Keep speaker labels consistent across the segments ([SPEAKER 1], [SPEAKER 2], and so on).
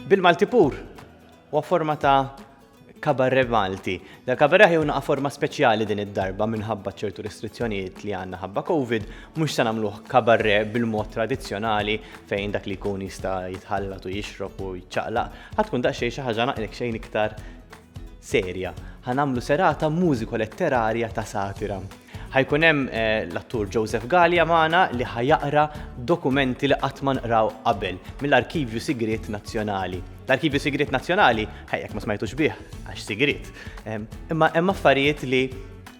[SPEAKER 1] Bil-Malti pur, u forma ta' kabarre Malti. Dal kabarre ħi unqa forma speċjali din id-darba minħabba ċertu restrizzjonijiet li għanna ħabba Covid, mux sa' namluħ kabarre bil-mod tradizjonali fejn dak li kun jista' jitħallat u jixrob u jċaqlaq, ħatkun daqxej xaħġa naqlek xejn iktar serja. Ħa nagħmlu serata mużiko letterarja ta' satira. Ħajkun hemm eh, l-attur Joseph Gallia magħna li ħajaqra dokumenti li qatt ma nqraw qabel mill-Arkivju Sigriet Nazzjonali. L-Arkivju Sigriet Nazzjonali, ħajjek ma smajtux bih, għax sigriet. Ehm, imma hemm affarijiet li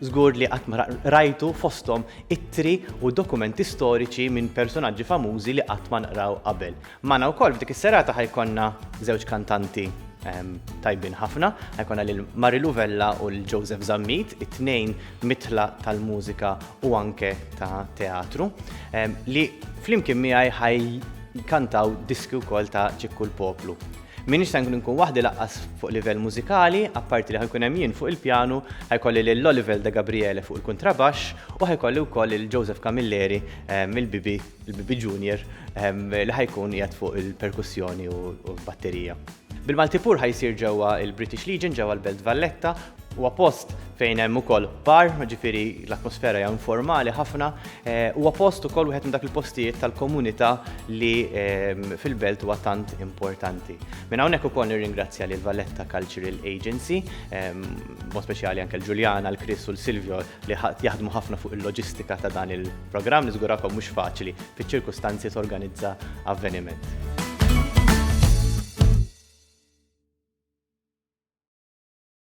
[SPEAKER 1] żgur li qatt ma rajtu fosthom ittri u dokumenti storiċi minn personaġġi famużi li qatt ma nqraw qabel. Magħna wkoll f'dik is-serata ħa jkollna żewġ kantanti tajbin ħafna, ħa jkollna lil Marilu Vella u lil Joseph Zammit, it-tnejn mitħla tal-mużika u anke ta' teatru, li flimkien miegħi ħa jkantaw diski wkoll ta' Ċikku l-Poplu. M'iniex se nkun inkun waħdi lanqas fuq livell mużikali, apparti li ħa jkun hemm jien fuq il-pjanu, ħa jkolli lil Olivel De Gabriele fuq il-kuntrabaxx u ħa jkolli wkoll lil Joseph Camilleri mill-bibi il-Bibi Junior, li ħajkun qiegħed fuq il-perkussjoni u l-batterija. Bil-Malti Pur ħajsir ġewwa il-British Legion ġewwa l-Belt Valletta Huwa post fejn hemm ukoll bar, ġifiri l-atmosfera hija informali ħafna, eh, huwa post ukoll wieħed minn dak il-postijiet tal-komunità li ehm, fil-belt huwa tant importanti. Minn hawnhekk ukoll nirringrazzja lil Valletta Cultural Agency, ehm, mod speċjali anke l-Ġuljana, l-Kris u l-Silvio li qed jaħdmu ħafna fuq il-loġistika ta' dan il-programm, niżgurakom mhux faċli fiċ-ċirkustanzi torganizza avveniment.